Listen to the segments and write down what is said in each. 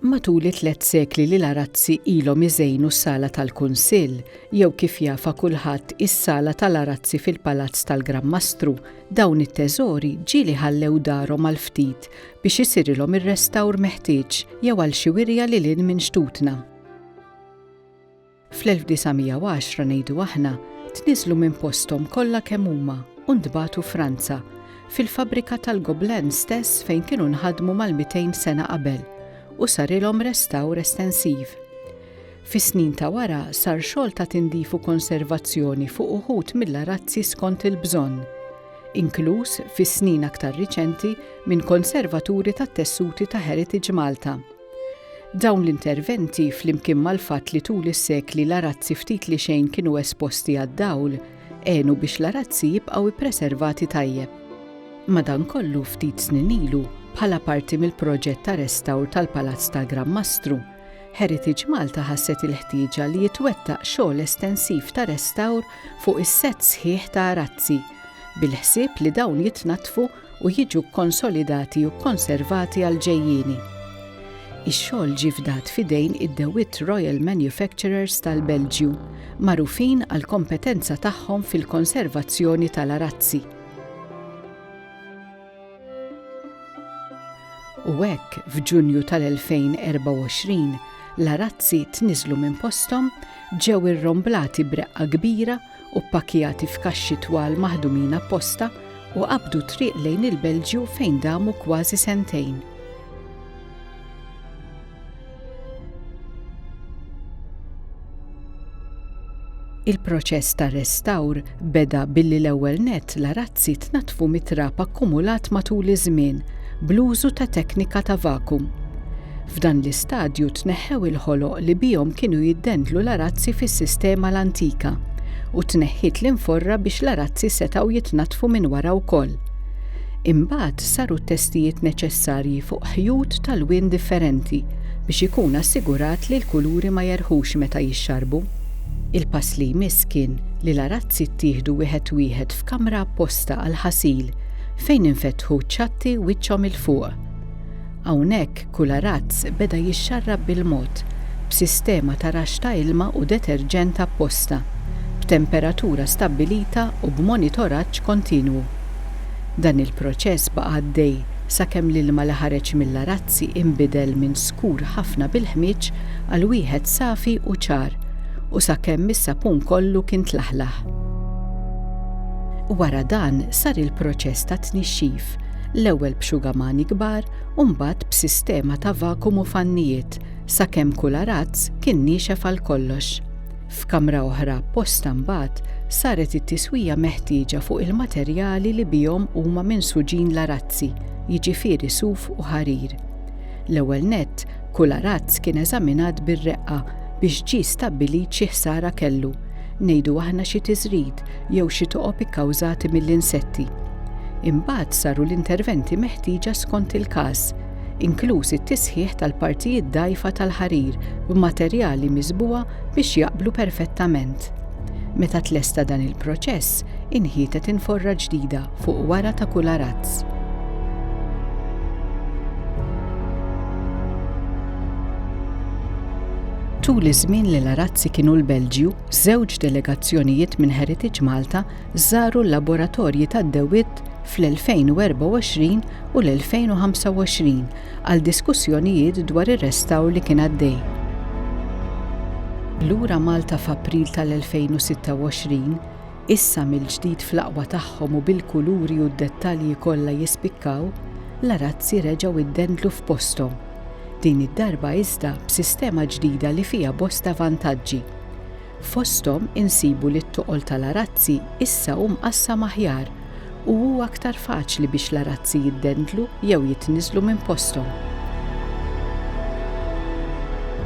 Matul it-tliet sekli li l-arazzi ilhom iżejnu s-sala tal-Kunsill, jew kif jafa kulħadd is-sala tal-arazzi fil-Palazz tal-Gran Mastru, dawn it-teżori ġieli ħallew darhom għal ftit biex isirilhom ir-restawr meħtieġ jew għal xi wirja lil hinn minn xtutna. Fl-1910 ngħidu aħna, tniżlu minn posthom kollha kemm huma u ntbagħtu Franza, fil-fabbrika tal-Gobelins stess fejn kienu nħadmu mal-mitejn sena qabel u sarilhom restawr estensiv. Fis-snin ta' wara sar xogħol ta' tindif u konservazzjoni fuq uħud mill-arazzi skont il-bżonn, inkluż fis-snin aktar riċenti minn konservaturi tat-tessuti ta' Heritage Malta. Dawn l-interventi, flimkien mal-fatt li tul is-sekli l-arazzi ftit li xejn kienu esposti għad-dawl, għenu biex l-arazzi jibqgħu ippreservati tajjeb. Madankollu ftit snin ilu, bħala parti mill-proġett ta' restawr tal-Palazz tal-Gran Mastru, Heritage Malta ħasset il-ħtieġa li jitwettaq xogħol estensiv ta' restawr fuq is-sett sħiħ ta' arazzi, bil-ħsieb li dawn jitnaddfu u jiġu kkonsolidati u kkonservati għall-ġejjieni. Ix-xogħol ġie fdat f'idejn id-DeWitt Royal Manufacturers tal-Belġju, magħrufin għall-kompetenza tagħhom fil-konservazzjoni tal-arazzi. U hekk, f'Ġunju tal-2024, l-arazzi tniżlu minn posthom, ġew irromblati b'reqqa kbira u ppakkjati f'kaxxi twal maħdumin apposta u qabdu t-triq lejn il-Belġju fejn damu kważi sentejn. Il-proċess ta' restawr beda billi l-ewwel nett l-arazzi tnaddfu mit-trab akkumulat matul iż-żmien bl-użu ta' teknika ta' vakum. F'dan l-istadju tneħħew il-ħoloq li bihom kienu jiddendlu l-arazzi fis-sistema l-antika u tneħħiet l-inforra biex l-arazzi setgħu jitnaddfu minn wara wkoll. Imbagħad saru t-testijiet neċessarji fuq ħjut tal-wien differenti biex ikun assigurat li l-kuluri ma jerħux meta jixxarbu. Il-pass li jmiss kien li l-arazzi ttieħdu wieħed wieħed f'kamra apposta għall-ħasil fejn infetħu ċ-ċatti wiċċhom 'il fuq. Hawnhekk, B'hekk kull arazz beda jixxarrab bil-mod, b'sistema ta' raxx ta' ilma u deterġent apposta, b'temperatura stabbilita u b'monitoraġġ kontinwu. Dan il-proċess baqa' għaddej sakemm l-ilma li ħareġ mill-arazzi inbidel minn skur ħafna bil-ħmieġ għal wieħed safi u ċar u sakemm is-sapun kollu kien tlaħlaħ. Wara dan sar il-proċess tat-tnixxif, l-ewwel b'xugamani kbar u mbagħad b'sistema ta' vakum u fannijiet sakemm kull arazz kien niexef għal kollox. F'kamra oħra apposta mbagħad saret it-tiswija meħtieġa fuq il-materjali li bihom huma minsuġin l-arazzi, jiġifieri suf u ħarir. L-ewwel nett Kull arazz kien eżaminat bir-reqqa biex ġie stabbilit xi ħsara kellu, ngħidu aħna xi tiżrid jew xi toqob ikkawżati mill-insetti. Imbagħad saru l-interventi meħtieġa skont il-każ, inkluż it-tisħiħ tal-partijiet dgħajfa tal-ħarir b'materjali miżbugħa biex jaqblu perfettament. Meta tlesta dan il-proċess, inħietet inforra ġdida. fuq wara ta' kull arazz. Tul iż-żmien li l-arazzi kienu l-Belġju, żewġ delegazzjonijiet minn Heritage Malta żaru l-laboratorji tad-dewwiet fl-2024 u l-2025 għal diskussjonijiet dwar ir-restawr li kien għaddej. Lura Malta f'April tal-2026, issa mill-ġdid fl-aqwa tagħhom u bil-kuluri u d-dettalji kollha jispikkaw, l-arazzi reġgħu ddendlu f'posthom. Din id-darba iżda b'sistema ġdida li fiha bosta vantaġġi. Fosthom insibu li t-toqol tal-arazzi issa hu mqassam aħjar u hu aktar faċli biex l-arazzi jiddendlu jew jitniżżlu minn posthom.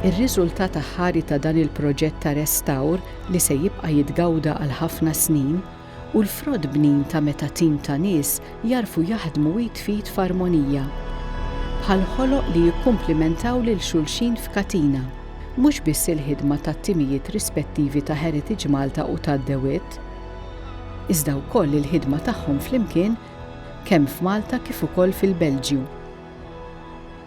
Ir-riżultat aħħari ta' dan il-proġett ta' restawr li se jibqa' jitgawda għal ħafna snin, hu l-frott bnin ta' meta tim ta' nies jagħrfu jaħdmu id f'id f'armonija. Bħal ħoloq li jikkumplimentaw lil xulxin f'katina. Mhux biss il-ħidma tat-timijiet rispettivi ta' Heritage Malta u ta' The Wit, iżda wkoll il-ħidma tagħhom flimkien kemm f'Malta kif ukoll fil-Belġju.